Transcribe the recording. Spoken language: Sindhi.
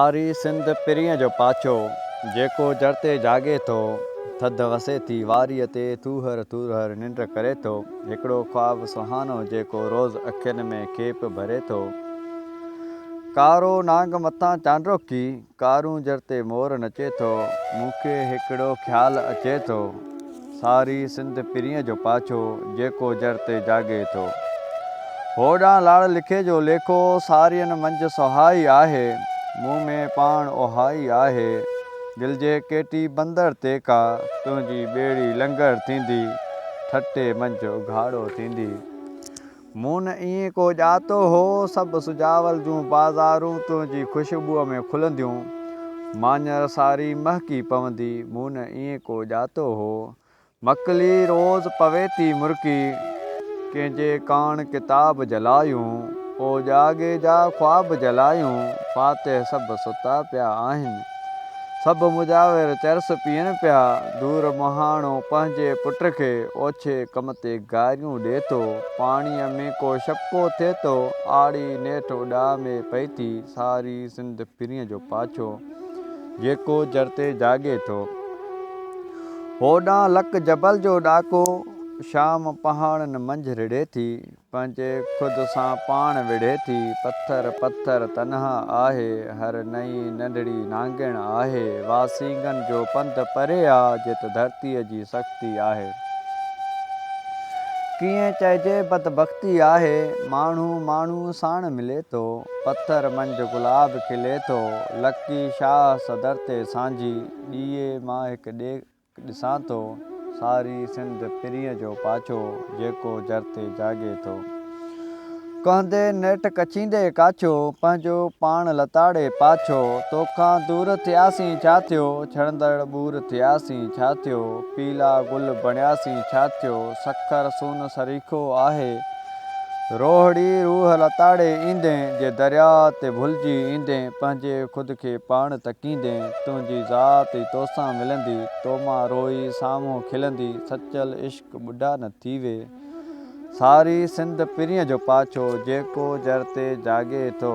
ساري سنڌ پرينء جو پاڇو، جيڪو جر تي جاڳي ٿو، ٿڌ وسي ٿي واريء تي، ٿوهر ٿورهر ننڊ ڪري ٿو، هڪڙو خواب سهانو جيڪو روز اکين ۾ کيپ ڀري ٿو. ڪارو نانگ مٿان چانڊوڪي، ڪارون جر تي مور نچي ٿو، مون کي هڪڙو خيال اچي ٿو. ساري سنڌ پرينء جو پاڇو، جيڪو جر تي جاڳي ٿو. هوڏانهن لاڙ لکي جو ليکو، سارين منجهه سهائي آهي، مون ۾ پاڻ اهائي آهي، دل جي ڪيٽي بندر تي ڪا، تنهنجي ٻيڙي لنگر ٿيندي، ٺٽي منجهه اگهاڙو ٿيندي. مون نه ائين ڪو ڄاتو هو، سڀ سجاول جون بازارون تنهنجي خوشبوء ۾ کلنديون، ماڃر ساري مهڪي پوندي، مون نه ائين ڪو ڄاتو هو. مڪلي روز پوي ٿي مرڪي، ڪنهن جي ڪاڻ ڪتاب جلايون، او ڄاڳي جا خواب جلايون، فاتح سڀ ستا پيا آهن. سڀ مجاور چرس پيئن پيا. دور مهاڻو پنهنجي پٽ کي اوڇي ڪم تي گاريون ڏي ٿو. پاڻيء ۾ ڪو شڪو ٿئي ٿو. آڙي نيٺ اڏاء ۾ پئي ٿي. ساري سنڌ پرينء جو پاڇو جيڪو جر تي جاڳي ٿو. هوڏانهن لڪ جبل جو ڏاڪو شام پهاڙن منجهه رڙهي ٿي. پنهنجي خود سان پاڻ وڙهي ٿي، پٿر پٿر تنها آهي، هر نئين ننڍڙي نانگڻ آهي، واسينگن جو پنڌ پري آ، جت ڌرتيء جي سختي آهي. ڪيئن چئجي بدبختي آهي، ماڻهو ماڻهو ساڻ ملي ٿو، پٿر منجهه گلاب کلي ٿو، لڪي شاهه صدر تي سانجهي، ڏيئي مان هڪ ڏي. ڏسان ٿو ساري سنڌ پرينء جو پاڇو جيڪو جر تي جاڳي ٿو ڪهندي نيٺ ڪڇيندي ڪاڇو پنهنجو پاڻ لتاڙي پاڇو توکان دور ٿياسين ڇا ٿيو ڇڙندڙ ٻور ٿياسين ڇا ٿيو پيلا گل بڻياسين ڇا ٿيو سکر سون سريکو آهي روهڙي روح لتاڙي ايندين جي درياء تي ڀلجي ايندين پنهنجي خود کي پاڻ تڪيندين تنهنجي ذات ئي توسان ملندي تو مان روئي سامهون کلندي سچل عشق ٻڍا نه ٿيوي ساري سنڌ پرينء جو پاڇو جيڪو جر تي جاڳي ٿو.